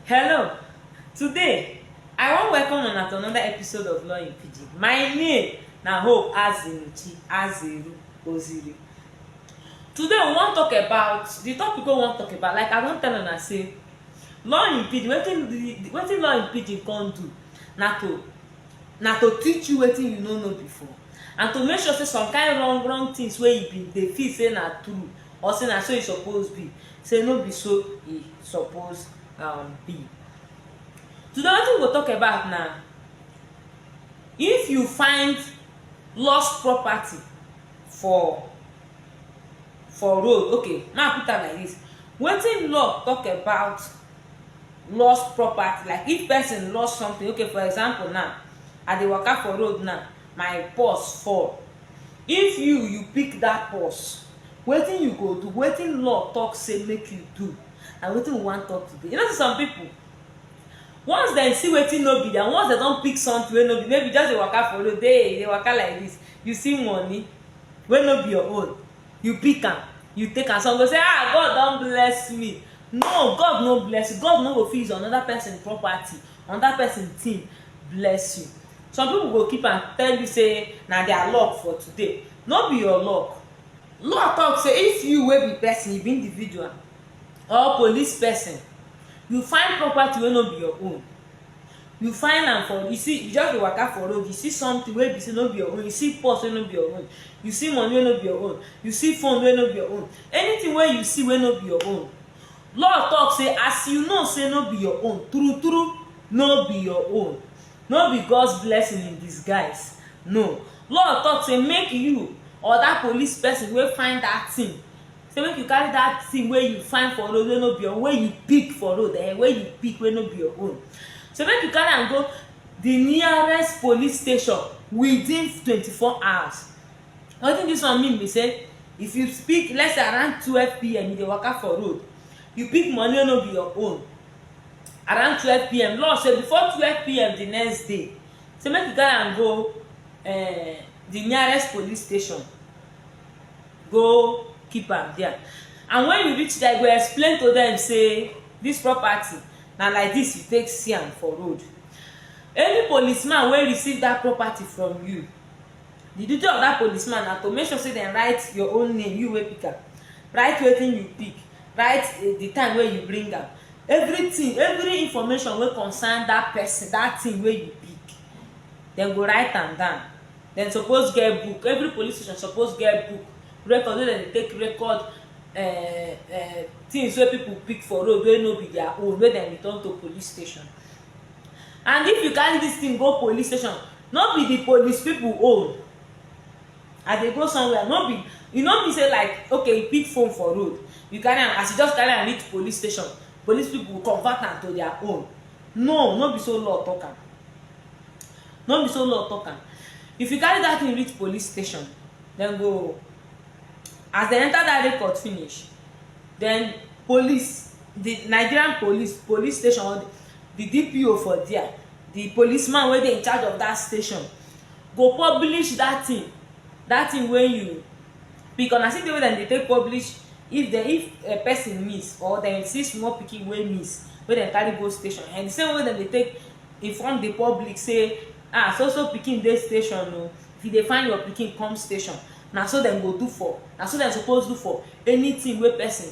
Hello, today I wan welcome una to another episode of Law in Pidgin. My name na Hope Azinuchi Azeru Oziri. Today we wan talk about the topic wey we wan talk about like I don tell una say law in Pidgin wetin the wetin law in Pidgin come do na to na to teach you wetin you no know before and to make sure say some kind wrong wrong things wey you bin dey feel say na true Or say na so e suppose be, say no be so e suppose um be. Today wetin we go talk about na if you find lost property for for road, okay make I put am like dis, wetin law talk about lost property like if person lost something okay for example now I dey waka for road now my purse fall, if you you pick dat purse Wetin you go do, wetin law talk say make you do and wetin we wan talk today. You know say some people, once dem see wetin no be and once dem don pick something wey no be, maybe you just dey waka for road, dey you dey waka like this, you see money wey no be your own, you pick am, you take am, some go say ah God don bless me, no God no bless you, God no go fit use another person property Another person team bless you. Some people go keep am tell you say na their luck for today. No be your luck. Law talk say if you wey be person, you be individual or police person, you find property wey no be your own, you find am for you see you just dey waka for road, you see something wey be say no be your own, you see purse wey no be your own, you see money wey no be your own, you see phone wey no be your own, anything wey you see wey no be your own, Law talk say as you know say no be your own, true true no be your own. No be God's blessing in disguise, no. Law talk say make you or that police person wey find that thing, say make you carry that thing wey you find for road wey no be your own, wey you pick for road eh, wey you pick wey no be your own. Say make you carry am go the nearest police station within twenty four hours. na wetin dis one mean be say if you pick let's say around 12pm you dey waka for road you pick money wey no be your own around 12pm law say before 12pm the next day say make you carry am go eh, the nearest police station go keep am there and when you reach there you go explain to them say this property na like this you take see am for road any policeman wey receive that property from you The duty of that policeman na to make sure say dem write your own name, you wey pick am, write wetin you pick, write the time wey you bring am, everything, every information wey concern that person, that thing wey you pick, dem go write am down. Dem suppose get book, every police station suppose get book, record wey dem dey take record um things wey people pick for road wey no be their own, wey dem return to police station. and if you carry this thing go police station no be the police people own i dey go somewhere no be you no mean say like okay you pick phone for road you carry am as you just carry am reach police station police people convert am to their own no no be so law talk am no be so law talk am if you carry that thing reach police station dem go as dem enter that record finish then police di nigerian police police station or di dpo for there di policeman wey dey in charge of dat station go publish dat thing dat thing wey you pick una see the way dem dey take publish if dem if a person miss or dem see small pikin wey miss wey dem carry go station and the same way dem dey take inform the public say ah so so pikin dey station o if you dey find your pikin come station na so dem go do for na so dem suppose do for anything wey person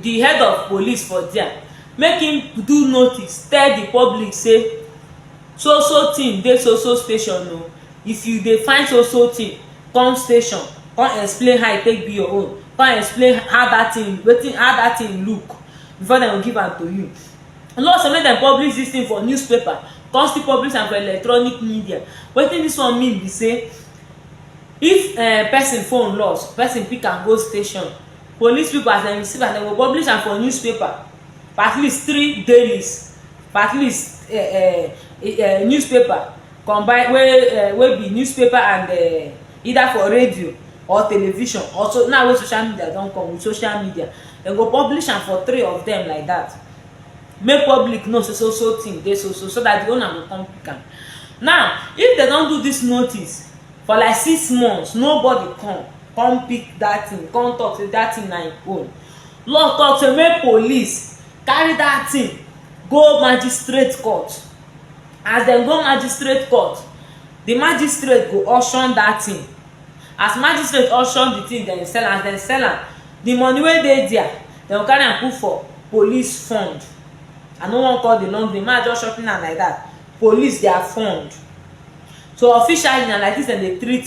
di head of police for dia make im do notice tell di public say so so tin dey so so station o if you dey find so so tin come station come explain how e take be your own come explain how dat tin wetin how dat tin look before dem go give am to you no say make dem publish dis tin for newspaper come still publish am for electronic media wetin dis one mean be say if um person phone loss person pick am go station Police pipo as dem receive am, dem go publish am for newspaper for at least three dailies, for at least um um newspaper combine wey um wey be newspaper and um either for radio or television or so now wey social media don come with social media, dem go publish am for three of dem like dat make public know sey so so tin dey so so, so dat di owner go kon pick am. Now, if dem don do dis notice for like six months nobody come, come pick that thing come talk say that thing na im own law talk say make police carry that thing go magistrate court as dem go magistrate court the magistrate go auction that thing as magistrate auction the thing dem sell am as dem sell am the money wey dey there dem go carry am put for police fund i no wan call the long name ma just shorten am like that police their fund so officially na like this dem dey treat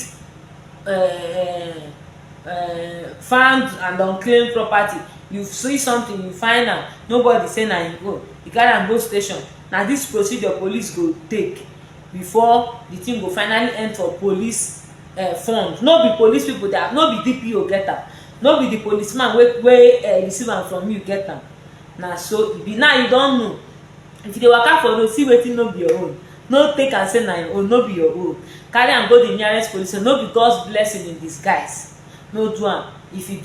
um um found and unclaimed property you see something you find am nobody say na im own you carry am go station na this procedure police go take before the thing go finally end for police um front no be police people that no be DPO get am no be the police man wey wey um receive am from you get am na so e be now you don know if you dey waka for road see wetin no be your own no take am say na your own no be your own carry am go the nearest police station no be God's blessing in disguise no do am if you